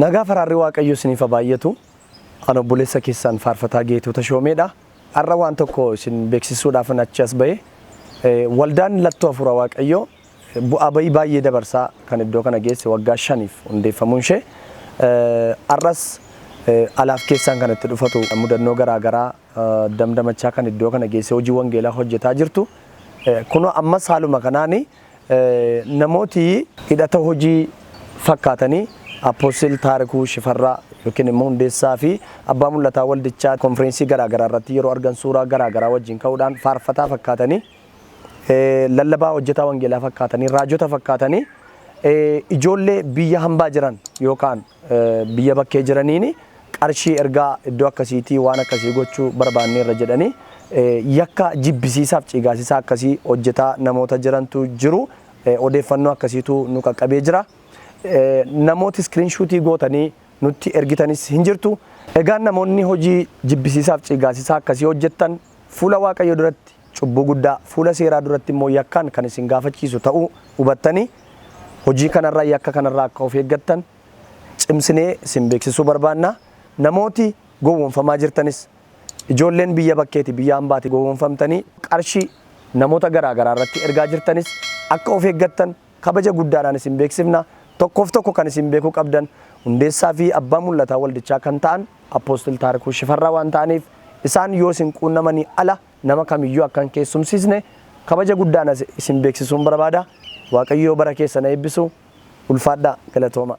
Nagaa faraarri waaqayyo isiniif haa baay'atu. An obboleessa keessan faarfataa Geetuu Tashoomeedha. Har'a waan tokko isin beeksisuudhaafan achi as ba'e. Eh, Waldaan Lattoo Hafuura Waaqayyoo bu'aa ba'ii baay'ee dabarsaa kan iddoo kana geesse waggaa shaniif hundeeffamuun ishee har'as alaaf keessaan kan itti dhufatu mudannoo garaa garaa damdamachaa kan iddoo kana geessee hojii wangeelaa hojjetaa jirtu kunoo ammas haaluma kanaan namooti hidhata hojii fakkaatanii Appoostil Taarikuu Shifarraa yookiin immoo hundeessaa fi abbaa mul'ataa waldichaa konfireensii garaa garaa irratti yeroo argan suuraa garaa garaa wajjin ka'uudhaan faarfataa fakkaatanii lallabaa hojjetaa wangeelaa fakkaatanii, raajota fakkaatanii ijoollee biyya hambaa jiran yookaan biyya bakkee jiraniin qarshii ergaa iddoo akkasiitii waan akkasii gochuu barbaanneerra jedhanii yakka jibbisiisaaf ciigaasisaa akkasii hojjetaa namoota jirantu jiru. Odeeffannoo akkasiitu nu qaqqabee jira. Namooti iskiriinshuutii gootanii nutti ergitanis hin jirtu. Egaa namoonni hojii jibbisiisaaf ciigaasisaa akkasii hojjettan fuula Waaqayyoo duratti cubbuu guddaa, fuula seeraa duratti immoo yakkaan kan isin gaafachiisu ta'uu hubattanii hojii kanarraa, yakka kanarraa akka of eeggattan cimsinee isin beeksisuu barbaanna. Namooti gowwoomfamaa jirtanis, ijoolleen biyya bakkeeti, biyya hambaati gowwoomfamtanii qarshii namoota garaa garaa irratti ergaa jirtanis akka of eeggattan Kabaja guddaadhaan isin beeksifna. Tokkoof tokko kan isin beekuu qabdan hundeessaa fi abbaa mul'ataa waldichaa kan ta'an Apostle Taarikuu Shifarraa waan ta'aniif isaan yoo isin quunnamanii ala nama kamiyyuu akka hin keessumsiisne kabaja guddaan as isin beeksisuun barbaada. Waaqayyoo bara keessan ha eebbisu. Ulfaadhaa. Galatoomaa.